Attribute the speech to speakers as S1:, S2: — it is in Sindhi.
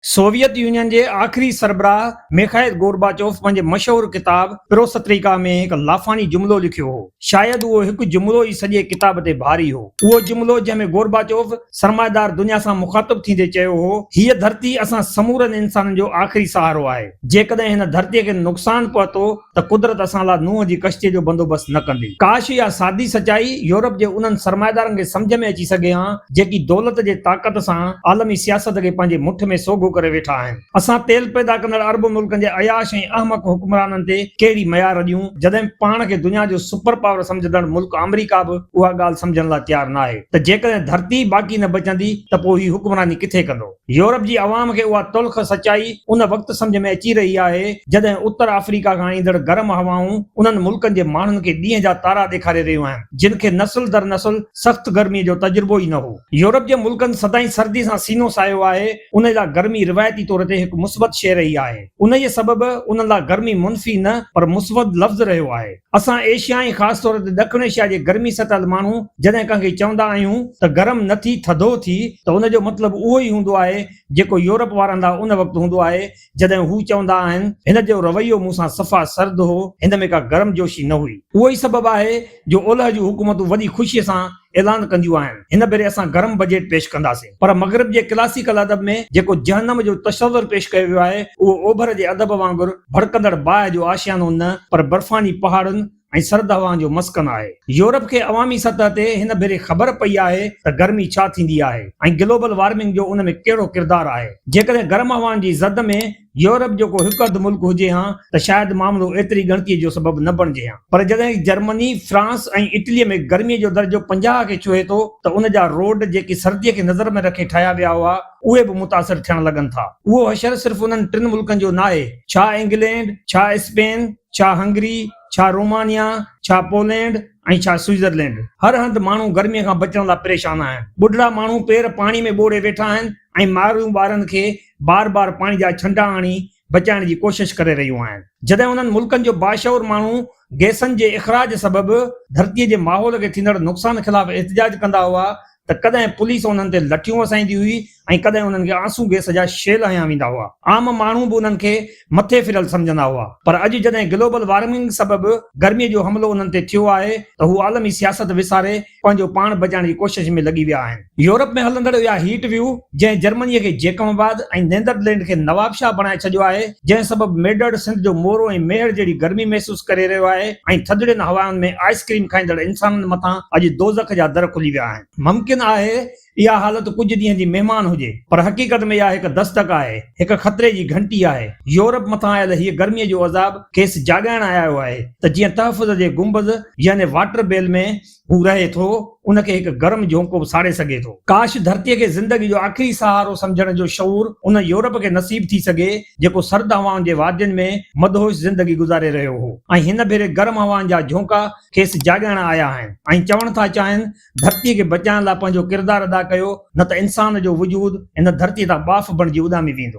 S1: سوويت يونين جي آخري سربراهه ميخائيل گورباچوف پنهنجي مشهور ڪتاب پروستريڪا ۾ هڪ لافاني جملو لکيو هو. شايد اهو هڪ جملو ئي سڄي ڪتاب تي ڀاري هو. اهو جملو جنهن ۾ گورباچوف سرمائيدار دنيا سان مخاطب ٿيندي چيو هو، هيء ڌرتي اسان سمورن انسانن جو آخري سهارو آهي. جيڪڏهن هن ڌرتيء کي نقصان پهتو ته قدرت اسان لاء نوح جي ڪشتيء جو بندوبست نه ڪندي. ڪاش اها سادي سچائي يورپ جي انهن سرمائيدارن کي سمجهه ۾ اچي سگهي ها، جيڪي دولت جي طاقت سان عالمي سياست کي پنهنجي مٺ ۾ سوگهو ڪري ويٺا آهن. اسان تيل پيدا ڪندڙ عرب ملڪن جي عياش ۽ احمق حڪمرانن تي ڪهڙي ميار اڏيون، جڏهن پاڻ کي دنيا جو سپر پاور سمجهندڙ ملڪ آمريڪا به اها ڳالهه سمجهڻ لاء تيار ناهي ته جيڪڏهن ڌرتي ئي باقي نه بچندي ته پوء هي حڪمراني ڪٿي ڪندو. يورپ جي عوام کي اها تلخ سچائي ان وقت سمجهه ۾ اچي رهي آهي، جڏهن اتر آفريڪا کان ايندڙ گرم هوائون انهن ملڪن جي ماڻهن کي ڏينهن جا تارا ڏيکاري رهيون آهن، جن کي نسل در نسل سخت گرميء جو تجربو ئي نه هو. يورپ جي ملڪن سدائين سردي سان سينو ساهيو آهي، انهيء لاء گرمي روايتي طور تي هڪ مثبت شيء رهي آهي. انهيء سبب انهن لاء گرمي منفي نه، پر مسود لفظ رهيو آهي. اسان ايشيا ۽ خاص طور تي ڏکڻ ايشيا جي گرمي سٽل ماڻهو جڏهن ڪنهن کي چوندا آهيون ته گرم نه ٿي ٿڌو ٿي ته ان جو مطلب اهو ئي هوندو آهي جيڪو يورپ وارن لا ان وقت هوندو آهي جڏهن هو چوندا آهن هن جو رويو مون سان صفا سرد هو هن ۾ ڪا گرمجوشي نه هئي. اهو ئي سبب آهي جو اولهه جون حڪومتون وڏي خوشي سان اعلان ڪنديون آهن. هن ڀيري اسان گرم بجيٽ پيش ڪنداسين. پر مغرب جي ڪلاسيڪل ادب ۾ جيڪو جهنم جو تصور پيش ڪيو ويو آهي، اهو اوڀر جي ادب وانگر ڀڙڪندڙ باهه جو آشيانو نه، پر برفاني پهاڙن ۽ سرد هوائن جو مسڪن آهي. يورپ کي عوامي سطح تي هن ڀيري خبر پئي آهي ته گرمي ڇا ٿيندي آهي ۽ گلوبل وارمنگ جو ان ۾ ڪهڙو ڪردار آهي. جيڪڏهن گرم هوائن جي زد ۾. يورپ جو ڪو هڪ اڌ ملڪ هجي ها ته شايد معاملو ايتري ڳڻتيء جو سبب نه بڻجي ها پر جڏهن جرمني، فرانس ۽ اٽليء ۾ گرميء جو درجو پنجاهه کي ڇهي ٿو ته ان جا روڊ جيڪي سرديء کي نظر ۾ رکي ٺاهيا ويا هئا اهي به متاثر ٿيڻ لڳن ٿا. اهو حشر صرف انهن ٽن ملڪن جو ناهي، ڇا انگلينڊ، ڇا اسپين، ڇا هنگري، ڇا رومانيا، ڇا پولينڊ ۽ ڇا سوئيزرلينڊ هر هنڌ ماڻهو گرميء کان بچڻ لاء پريشان آهن. ٻڍڙا ماڻهو پير پاڻي ۾ ٻوڙي ويٺا آهن ۽ مارئيون ٻارن کي بار بار پاڻي جا ڇنڊا آڻي بچائڻ جي ڪوشش ڪري رهيون آهن جڏهن انهن ملڪن جو باشعور ماڻهو گئسن جي اخراج سبب ڌرتي جي ماحول کي ٿيندڙ نقصان خلاف احتجاج ڪندا هئا ته ڪڏهن پوليس انهن تي لٺيون وسائيندي هئي ۽ ڪڏهن انهن کي آنسو گئس جا شيل هنيا ويندا هئا عام ماڻهو به انهن کي مٿي ڦريل سمجهندا هئا پر اڄ جڏهن گلوبل وارمنگ سبب گرمي جو حملو انهن تي ٿيو آهي ته هو عالمي سياست وساري پنهنجو پاڻ بچائڻ جي ڪوشش ۾ لڳي ويا آهن. يورپ ۾ هلندڙ اها هيٽ ويو جنهن جرمني کي جيڪب آباد ۽ نيدرلينڊ کي نوابشاهه بڻائي ڇڏيو آهي جنهن سبب ميڊڙ سنڌ جو مورو ۽ ميهڙ جهڙي گرمي محسوس ڪري رهيو آهي ۽ ٿڌڙين هوائن ۾ آئس ڪريم کائيندڙ انسانن مٿان اڄ دوزخ جا در کلي ويا آهن. ممڪن آهي اها حالت ڪجهه ڏينهن جي مهمان هجي، پر حقيقت ۾ اها هڪ دستڪ آهي، هڪ خطري جي گهنٽي آهي. يورپ مٿان آيل هيء گرميء جو عذاب کيس جاڳائڻ آيو آهي ته جيئن تحفظ جي گنبذ يعني واٽر بيل ۾ هو رهي ٿو، ان کي هڪ گرم جهونڪو به ساڙي سگهي ٿو. ڪاش ڌرتيء کي زندگي جو آخري سهارو سمجهڻ جو شعور ان يورپ کي نصيب ٿي سگهي، جيڪو سرد هوائن جي وادين ۾ مدهوش زندگي گذاري رهيو هو ۽ هن ڀيري گرم هوائن جا جهونڪا کيس جاڳائڻ آيا آهن ۽ چوڻ ٿا چاهين ڌرتي کي بچائڻ لاء پنهنجو ڪردار ادا ڪيو نه ته انسان جو وجود هن ڌرتي تان ٻاڦ بڻجي اڏامي ويندو.